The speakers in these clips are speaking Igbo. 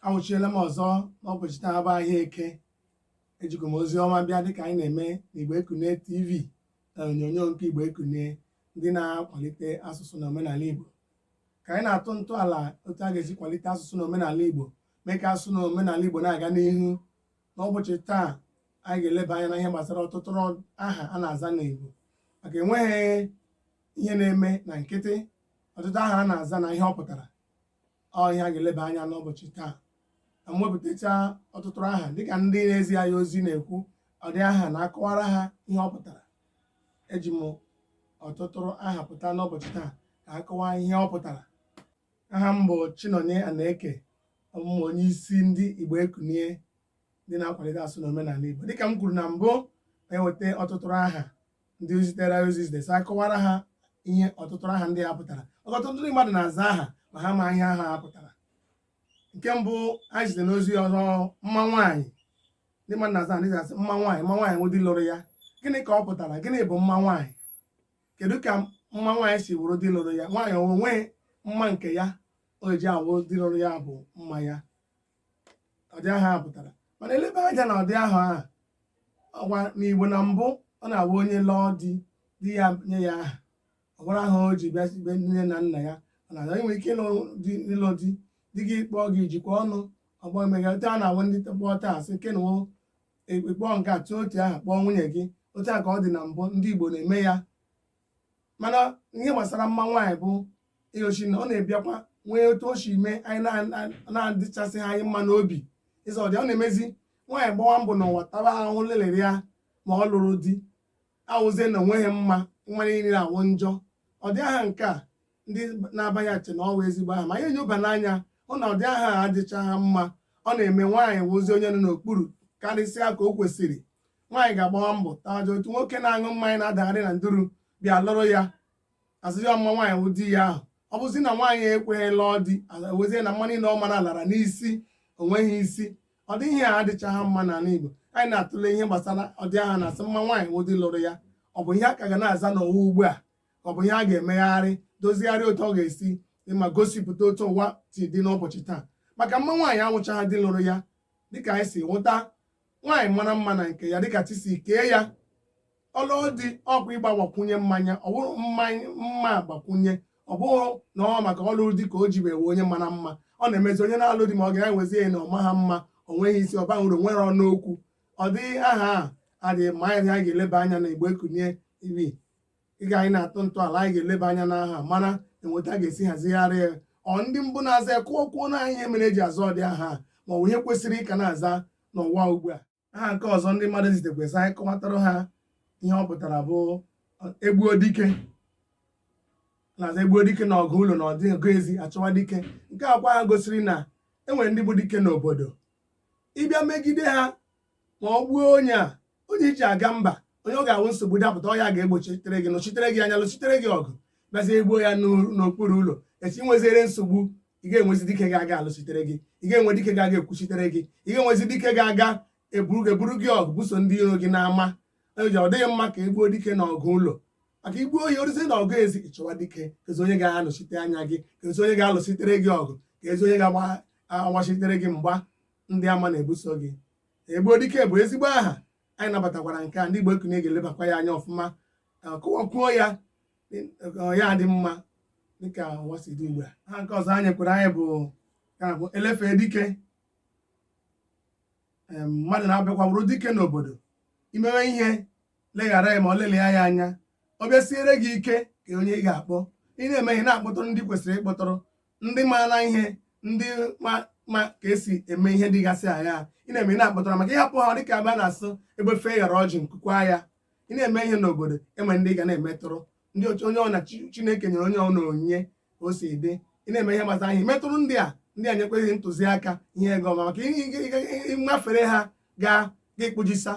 awụchiela m ọzọ n'ụbọchị taa bụ ahịa eke ejikwa m ozi ọma bịa dịka anyị na-eme na Igbo Ekunie TV na onyonyo nke Igbo Ekunie ndị na-akwalite asụsụ na omenala Igbo ka anyị na-atụ ntọala otu a ga-esi kwalite asụsụ na omenala Igbo mee ka asụsụ na omenala Igbo na-aga n'ihu n'ụbọchị taa anyị ga-eleba anya na ihe gbasara ọtụtụ aha a na-aza n'Igbo maka enweghị ihe na-eme na nkịtị ọtụtụ aha a na-aza na ihe ọ pụtara ọ ihe a ga-eleba anya n'ụbọchị taa na m wepụtachaa ọtụtụ aha dịka ndị na-ezi anyị ozi na-ekwu ọdị aha na-akọwara ha ihe ọ pụtara eji m ọtụtụ aha pụta n'ụbọchị taa ka a kọwaa ihe ọ pụtara aha m bụ Chinonye Anaeke ọ bụ m onye isi ndị Igbo Ekunie ndị na-akwalite asụsụ na omenala Igbo dịka m kwuru na mbụ na-eweta ọtụtụ aha ndị zitere ozi zitere sị a kọwara ha ihe ọtụtụ aha ndị a pụtara ọtụtụ ndị mmadụ na-aza aha ma ha ma ihe aha ha pụtara nke mbụ ha zitere n'ozi ọzọ mma nwaanyị ndị mmadụ na-aza aha ndị ga-asị mma nwaanyị mma nwaanyị wụ di lụrụ ya gịnị ka ọ pụtara gịnị bụ mma nwaanyị kedu ka mma nwaanyị si wụrụ di lụrụ ya nwaanyị o nwe mma nke ya o ji awụ di lụrụ ya bụ mma ya ọdị aha ahụ pụtara mana e lebe anya na ọdị aha ahụ ọgwa n'igbo na mbụ ọ na-awụ onye lụọ di di ya nye ya aha ọ ghara aha o ji bịa be nne na nna ya ọ na-aga inwe ike ịlụ di ịlụ di di gị kpọọ gị jikwa ọnụ ọgbọ emega otu a na-awụ ndị kpọọ taa sị kenwo ekpekpọọ nke a tụọ otu aha kpọọ nwunye gị otu a ka ọ dị na mbụ ndị igbo na-eme ya mana ihe gbasara mma nwaanyị bụ igoshi na ọ na-abịakwa nwee otu o si mee anyị na- na-adịchasịghị anyị mma n'obi ịza ọdị a ọ na-emezi nwaanyị gbawa mbọ n'ụwa taba ahụhụ lelere ya ma ọ lụghị di awụzie na o nweghị mma nwa niile awụ njọ ọdị aha nke a ndị na-aba ya eche na ọ wụ ezigbo aha mana e nyoba n'anya hụ na ụdị aha a adịchaghị mma ọ na-eme nwaanyị wụzi onye nọ n'okpuru karịsịa ka o kwesịrị nwaanyị ga-agbawa mbọ taa aja otu nwoke na-aṅụ mmanya na-adagharị na nduru bịa lụrụ ya a sịzi ọ mma nwaanyị wụ di ya ahụ ọ bụzi na nwaanyị ekweghị lụọ di wezie na mma niile ọ mara lara n'isi o nweghị isi ọdị ihe a adịchaghị mma n'ala Igbo anyị na-atụle ihe gbasara ọdị aha a na-asị mma nwaanyị wụ di lụrụ ya ọ bụ ihe a ka ga na-aza n'ụwa ugbu a ka ọ bụ ihe a ga-emegharị dozigharị otu ọ ga-esi dị mma gosipụta otu ụwa si dị n'ụbọchị taa maka mma nwaanyị awụchaghị di lụrụ ya dịka anyị si hụta nwaanyị mara mma na nke ya dịka chi si kee ya ọ lụọ di ọ kwa ịgbakwunye mma ya ọ bụrụ mma mgbakwunye ọ bụghị na ọ maka ọ lụ di ka o ji wee onye mara mma ọ na-emezi onye na-alụ di ma ọ ga-ewezi ya na ọ maha mma o nweghị isi ọ baghị uru o nweghị ọnụ okwu ọdị aha a adịghị mma anyị ga-eleba anya na igbo ekunie TV ị ga anyị na-atụ ntọala anyị ga-eleba anya n'aha mara otu a ga-esi hazigharị ya ọ ndị mbụ na-aza ya kọọ kwuo na ihe mere eji aza ụdị aha ma ọ bụ ihe kwesịrị ịka na-aza n'ụwa ugbu a aha nke ọzọ ndị mmadụ zitekwa sị anyị kọwatara ha ihe ọ pụtara bụ egbuo dike na-aza egbuo dike na ọgụ ụlọ na ọ dị ọgụ ezi achọwa dike nke a kwa aha gosiri na enwere ndị bụ dike n'obodo ị bịa megide ha ma ọ gbuo onye a onye iji aga mba onye ọ ga-awụ nsogbu dapụta ọ ya ga-egbochitere gị nọchitere gị anya lụchitere gị ọgụ bịazie egbuo ya n'okpuru ụlọ echi nweziere nsogbu ị ga-enwezi dike ga-aga alụchitere gị ị ga-enwe dike ga-aga ekwuchitere gị ị ga-enwezi dike ga-aga eburu gị eburu gị ọgụ buso ndị iro gị n'ama eji ọ dịghị mma ka egbuo dike na ọgụ ụlọ maka igbuo ya o ruzie na ọgụ ezi ịchọwa dike kezi onye ga-anọchite anya gị kezi onye ga-alụchitere gị ọgụ kezi onye ga-agbachitere gị mgba ndị ama na-ebuso gị egbuo dike bụ ezigbo aha anyị nabatakwara nke a ndị Igbo Ekunie ga-elebakwa ya anya ọfụma kọwakwuo ya ya dị mma dịka ụwa si dị ugbu a aha nke ọzọ enyekwara anyị bụ elefe dike mmadụ na-abịakwa wụrụ dike n'obodo imewe ihe leghara ya ma ọ lelịa ya anya ọ bịa siere gị ike ke onye ị ga-akpọ ị na-eme ihe na-akpọtụrụ ndị kwesịrị ịkpọtụrụ ndị maara ihe ndị ma ka esi eme ihe dịgasị aghaa ị na-eme ihe na-akpọtụrụ ha maka ịhapụ ha dịka ebe a na-asị egbe fee ghara ọjị nku akwaa ya ị na-eme ihe n'obodo enwe ndị ị ga na-emetụrụ ndị otu onye ọna Chi- chineke nyere onye ọna onyinye ka o si dị ị na-eme ihe gbasara ihe metụrụ ndị a ndị a nyekwa gị ntụziaka ihe ị ga-eme maka ị- ị- ị- ị- ịmafere ha gaa gị kpụjisa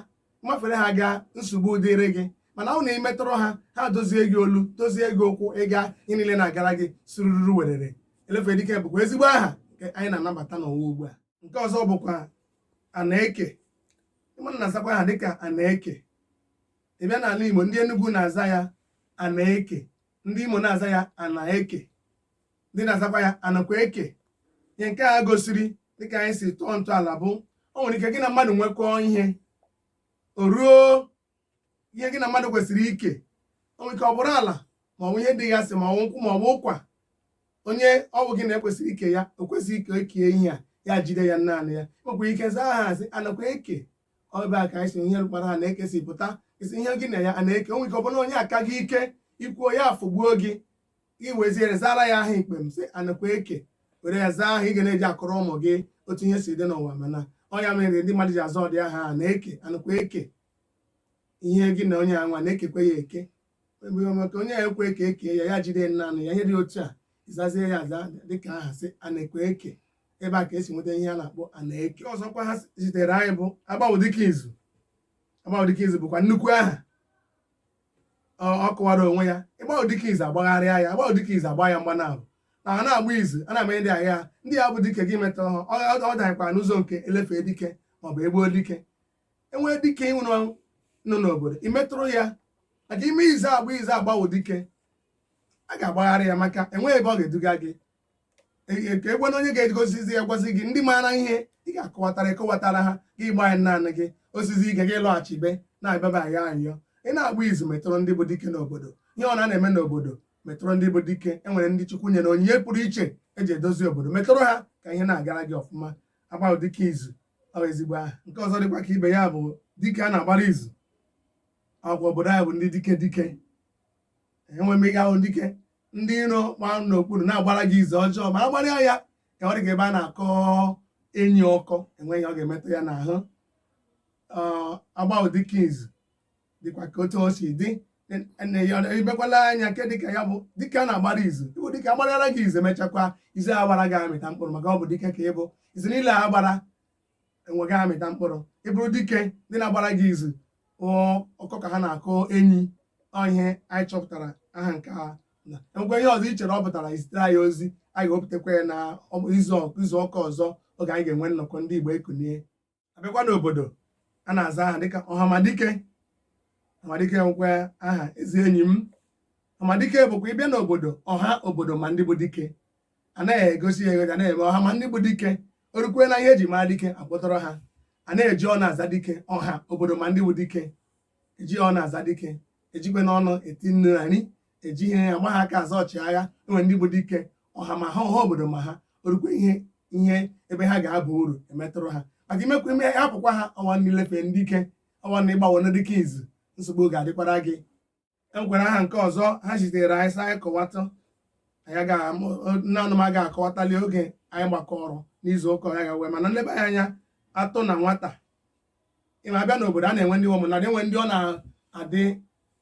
mafere ha gaa nsogbu dịrị gị mana ọ na imetụrụ ha ha dozie gị olu dozie gị ụkwụ ịga ihe niile na-agara gị sirururu werere Elefedike bụkwa ezigbo aha nke anyị na-anabata n'ụwa ugbu a nke ọzọ bụkwa Anaeke ị ma na a na-azakwa aha dịka Anaeke ị bịa n'ala Igbo ndị Enugu na-aza ya Anaeke ndị Imo na-aza ya Anaeke ndị na-azakwa ya anakwa eke ihe nke a gosiri dịka anyị si tụọ ntọala bụ o nwere ike gị na mmadụ nwekọọ ihe o ruo ihe gị na mmadụ kwesịrị ike o nwere ike ọ bụrụ ala ma ọ bụ ihe dịgasị ma ọ bụ nkwụ ma ọ bụ ụkwa onye ọ bụ gị na ya kwesịrị ike ya o kwezighị ka ekie ihe a ya jide ya naanị ya nwekwa ike zaa aha sị anakwa eke ọ ebe a ka anyị si ihe a kpọrọ anaeke si pụta ị sị ihe gị na ya a na-eke o nwere ike ọ bụrụ na onye a ka gị ike ikwuo ya afụgbuo gị iweziere zara ya aha ikpe m sị anakwa eke were ya zaa aha ị ga na-eji akọrọ ụmụ gị otu ihe si dị n'ụwa mana ọ ya mere ndị mmadụ ji aza ụdị aha anaeke anakwa eke ihe gị na onye anwa na-ekekwe ya eke mgbe maka onye ya ekwe ka ekee ya ya jide naanị ya ihe dị otu a ịzazie ya aza dịka aha sị anakwa eke ebe a ka esi nweta ihe a na-akpọ anaeke ọzọkwa ha zitere anyị bụ agbawo dike izu agbawo dike izu bụkwa nnukwu aha ọ kọwara onwe ya ịgbawo dike izu agbagharịa ya agbawo dike izu agba ya mgba naabọ a na-agba izu a na-eme ndị agha ndị ya bụ dike gị metụrụ ha ọ daghịkwa n'ụzọ nke elefe dike maọbụ egbuo dike enwee dike ịnwụ nọ n'obodo imetụrụ ya maka ime izu agba izu agbawo dike a ga-agbagharị ya maka enweghị ebe ọ ga-eduga gị ka egwana onye ga-edozizi ya gwazi gị ndị maara ihe ị ga-akọwatara ekọwatara ha gị gba ya naanị gị osizi ike gị lọghachi be na-abịaba ya anyọ ị na-agba izu metụrụ ndị bụ dike n'obodo ihe ọ na-eme n'obodo metụrụ ndị bụ dike enwere ndị chukwu nyere onyinye pụrụ iche eji edozi obodo metụrụ ha ka ihe na-agara gị ọfụma agbawo dike izu ọ ezigbo aha nke ọzọ dịkwa ka ibe ya bụ dike a na-agbara izu ọkwa obodo anyị bụ ndị dike dike enwe mmega ahụ dike ndị iro gba n'okpuru na-agbara gị izu ọjọọ ma agbara ya ka ọ dị ka ebe a na-akọ enyi ọkọ enweghị ọ ga-emetụ ya n'ahụ agbawo dike izu dịkwa ka otu o si dị ibekwala anya nke dike ya bụ dike a na-agbara izu ịbụ dike agbara gị izu emechakwa izu agbara gị amịta mkpụrụ maka ọ bụ dike ka ịbụ izu niile agbara enweghị ga-amịta mkpụrụ ị bụrụ dike ndị na-agbara gị izu ọkọ ka ha na-akọ enyi ihe anyị chọpụtara aha nke a na enwekwa ihe ọzọ i chere ọ pụtara izitere anyị ozi anyị ga-ewepụtakwa ya na izu ụka ọzọ oge anyị ga-enwe nnọkọ ndị Igbo ekunie abịakwa n'obodo a na-aza aha dịka ọhamadike ọhamadike nwekwa aha ezi enyi m ọhamadike bụkwa ịbịa n'obodo ọha obodo ma ndị bụ dike a naghị egosi ya egosi a na-eme ọha ma ndị bụ dike orukwe na ihe eji mara dike akpọtụrụ ha a na-eji ọnụ aza dike ọha obodo ma ndị bụ dike eji ọnụ aza dike ejikwe n'ọnụ eti nnu na nri eji ihe ya gba ha aka aza ọchịagha enwere ndị bụ dike ọha ma ha ọha obodo ma ha orukwe ihe ebe ha ga-aba uru emetụrụ ha maka imekwa ime hapụkwa ha ọnwa n'ilefe ndị dike ọnwa n'ịgbawo ndị dike izu nsogbu ga-adịkwara gị enwekwara aha nke ọzọ ha zitere anyị sị anyị kọwata anyị ga nne anụma ga akọwatali oge anyị gbakọrọ n'izu ụka ya ga wee mana nleba ya anya atọ na nwata ịma abịa n'obodo a na-enwe ndị ụmụnnadị enwe ndị ọ na-adị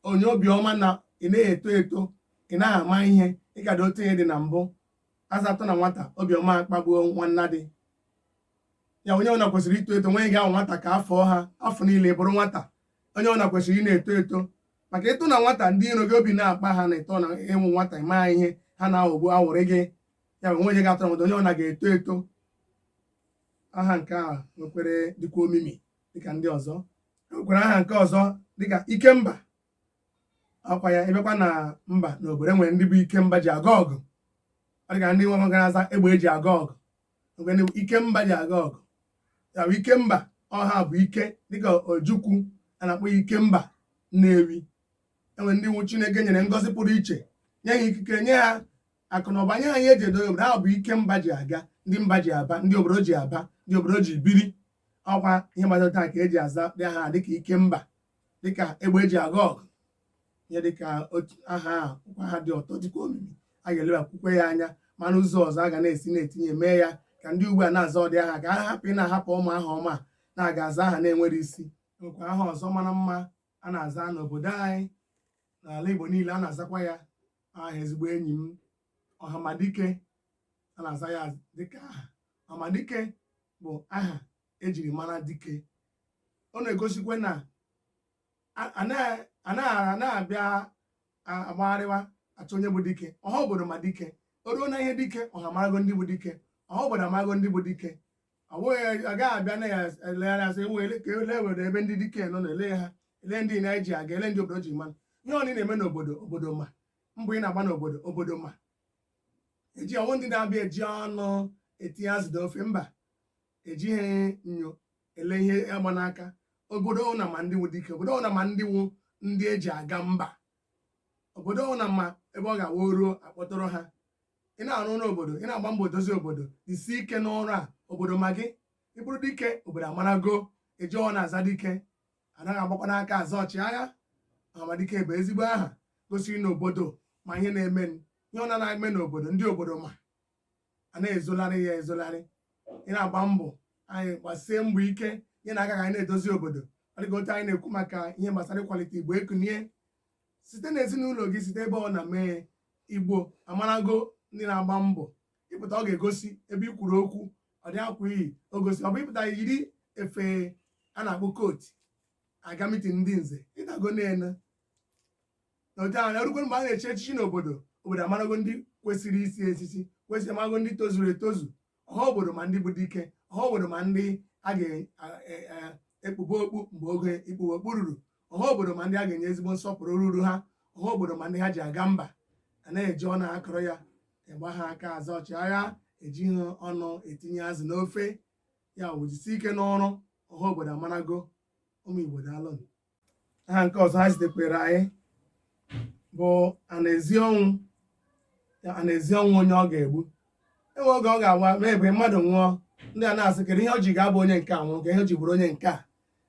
onye obiọma na ị na-eto eto ị naghị ama ihe ị ka dị otu ị dị na mbụ aza atọ na nwata obiọma akpagbuo nwannadị ya onye ọbụla kwesịrị ito eto nweghị ga-awụ nwata ka afọ ha afọ niile bụrụ nwata onye ọ na kwesịrị ị na-eto eto maka ịtọ na nwata ndị iro gị obi na-akpa ha na ịtọ na ịwụ nwata ịma ihe ha na-aghọgbu awụrị gị ya bụ nweghị ga-atọ na nwata onye ọ na ga-eto eto aha nke a nwekwara dịkwa omimi dịka ndị ọzọ nwekwara aha nke ọzọ dịka ikemba ọkwa ya ịbịakwa na mba na obodo e nwere ndị bụ ikemba ji aga ọgụ ọ dịka ndị nwa gara aza egbe eji aga ọgụ o nwere ike mba ji aga ọgụ ya bụ ikemba ọha bụ ike dịka ojukwu a na-akpọ ya ikemba nnewi enwere ndị nwụ chineke nyere ngọzi pụrụ iche nye ha ikike nye ha akụ na ụba nye ha ihe eji edozi obodo ha bụ ike mba ji aga ndị mba ji aba ndị obodo ji aba ndị obodo ji biri ọkwa ihe gbasara taa ka eji aza ụdị aha dịka ikemba dịka egbe eji aga ọgụ ihe dịka aha ọkwa aha dị ụtọ dịkwa omimi a ga-elebakwukwe ya anya ma n'ụzọ ọzọ a ga na-esi na-etinye mee ya ka ndị ugbu a na-aza ụdị aha ka ha hapụ ị na-ahapụ ụmụ aha ọma na-aga aza aha na-enwerọ isi nwekwa aha ọzọ mara mma a na-aza n'obodo anyị n'ala Igbo niile a na-azakwa ya aha ezigbo enyi m ọhamadike a na-aza ya dịka aha ọhamadike bụ aha ejiri mara dike ọ na-egosikwa na anaghị na-abịa agbagharịwa achọ onye bụ dike ọha obodo ma dike o ruo na ihe dike ọha marago ndị bụ dike ọha obodo amarago ndị bụ dike ọ bụghị agaghị abịa na ya elegharị asị wele ka ele were ebe ndị dike nọ na ele ha ele ndị na eji aga ele ndị obodo ji eme ọnụ ihe ọ na-eme n'obodo obodo ma mbọ ị na-agba n'obodo obodo ma eji ọ nwụ ndị na-abịa eji ọnụ etinye azụ n'ofe mba ejighị enyo ele ihe agba n'aka obodo ọ wụna ma ndị nwụ dike obodo ọ wụna ma ndị nwụ ndị eji aga mba obodo ọ wụna ma ebe ọ ga-awụ o ruo akpọtụrụ ha ị na-arụ ọrụ obodo ị na-agba mbọ dozie obodo isi ike n'ọrụ a obodo ma gị ị bụrụ dike obodo amarago eji ọ na-aza dike anaghị agbakwanụ aka aza ọchịagha ọhamadike bụ ezigbo aha gosiri na obodo ma ihe na-eme ihe ọ na-eme n'obodo ndị obodo ma a na-ezolarị ya ezolarị ị na-agba mbọ anyị gbasie mbọ ike nyenụ aka ka anyị na-edozi obodo ọ dịka otu anyị na-ekwu maka ihe gbasara ịkwalite igbo ekunie site na ezinụlọ gị site ebe ọ na mee igbo amarago ndị na-agba mbọ ị pụta ọ ga-egosi ebe ị kwuru okwu ụdị akwa i yi o gosi ọ bụ ị pụta yiri efe a na-akpọ kootu aga mitin ndị nze ịdago na-ene otu ahụ erukwe mgbe a na-echi echichi n'obodo obodo amarago ndị kwesịrị ichi echichi kwesịrị amago ndị tozuru etozu ọha obodo ma ndị bụ dike ọha obodo ma ndị a ga-ekpube e, e, okpu mgbe oge ikpube okpu ruru ọha obodo ma ndị a ga-enye ezigbo nsọpụrụ ruru ha ọha obodo ma ndị ha ji aga mba a na-eji ọnụ akọrọ ya ị gbaha aka aza ọchịagha ejighị ọnụ etinye azụ n'ofe ya wụ jisie ike n'ọrụ ọha obodo amarago ụmụ igbo daalụ aha nke ọzọ ha zitekwere anyị bụ anaezi ọnwụ anaezi ọnwụ onye ọ ga-egbu enwe oge ọ ga-abụ mgbe mmadụ nwụọ ndị a na-asị kedu ihe o ji ga-abụ onye nke a nwụrụ ka ihe o ji bụrụ onye nke a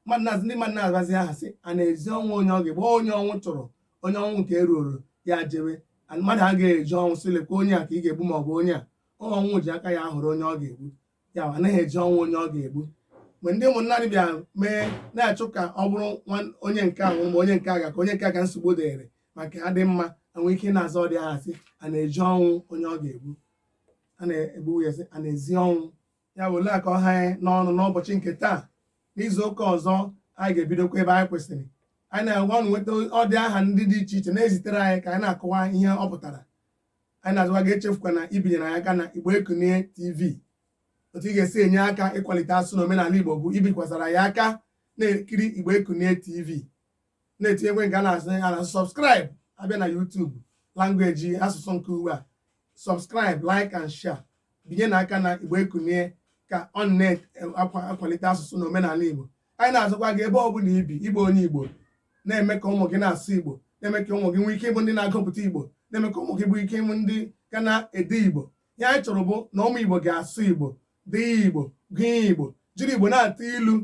mmadụ na-asị ndị mmadụ na-abazi aha sị anaezi ọnwụ onye ọ ga-egbu onye ọnwụ tụrụ onye ọnwụ nke eruoro ya jewe mmadụ agaghị ezi ọnwụ sị lekwa onye a ka ị ga-egbu ma ọ bụ onye a ọnwụ ji aka ya họrọ onye ọ ga-egbu ya anaghị ezi ọnwụ onye ọ ga-egbu mgbe ndị ụmụnna anyị bịa mee na-achọ ka ọ bụrụ nwa- onye nke a nwụrụ ma onye nke a ga ka onye nke a ka nsogbu dịrị maka adị mma enwe ike na-aza ụdị aha sị a na-ezi ọnwụ onye ọ ga-egbu a na-egbu ya sị a na-ezi ọnwụ ya bụ ole ka ọ ha anyị n'ọnụ n'ụbọchị nke taa n'izu ụka ọzọ anyị ga-ebidokwa ebe anyị kwụsịrị anyị na-agwa unu nweta ụdị aha ndị dị iche iche na-ezitere anyị ka anyị na-akọwa ihe ọ pụtara anyị na-asịkwa gị echefukwana ibinyere anyị aka na Igbo Ekunie TV otu ị ga-esi enye aka ịkwalite asụsụ na omenala Igbo bụ ibikwasara ya aka na-ekiri Igbo Ekunie TV na-etinyekwe nke a na-asị ya na subscribe abịa na YouTube language asụsụ nke ugbu a subscribe like and share binyenụ aka na Igbo Ekunie ka ọ na-akwalite asụsụ na omenala Igbo anyị na-asịkwa gị ebe ọ bụla ibi ịbụ onye igbo na-eme ka ụmụ gị na-asụ igbo na-eme ka ụmụ gị nwee ike ịbụ ndị na-agụpụta igbo na-eme ka ụmụ gị nwee ike ịbụ ndị ga na-ede igbo ihe anyị chọrọ bụ na ụmụ igbo ga-asụ igbo dee igbo gụọ igbo jiri igbo na-atụ ilu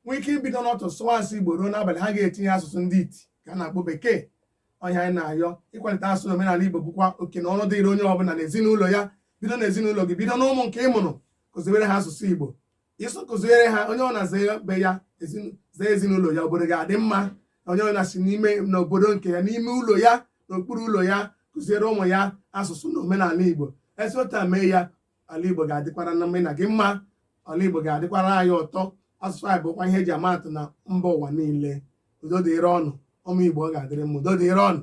nwee ike ibido n'ụtụtụ sụwa asụsụ igbo ruo n'abalị ha agaghị etinye asụsụ ndị iti ka a na-akpọ bekee ọ ihe anyị na-ayọ ịkwalite asụsụ na omenala igbo bụkwa oke na ọrụ dịrị onye ọbụla na ezinụlọ ya bido na ezinụlọ gị bido n'ụmụ nke ị mụrụ kụziwere ha asụsụ igbo ịsụ kụziere ha onye ọ bụla zie be ya zie ezinụlọ ya obodo ga-adị mma onye ọ bụla si n'ime n'obodo nke ya n'ime ụlọ ya n'okpuru ụlọ ya kụziere ụmụ ya asụsụ na omenala igbo esi otu a mee ya ala igbo ga-adịkwara mụ na gị mma ala igbo ga-adịkwara anyị ụtọ asụsụ anyị bụkwa ihe eji ama atụ na mba ụwa niile udo dịrị unu ụmụ igbo ọ ga-adịrị mma udo dịrị unu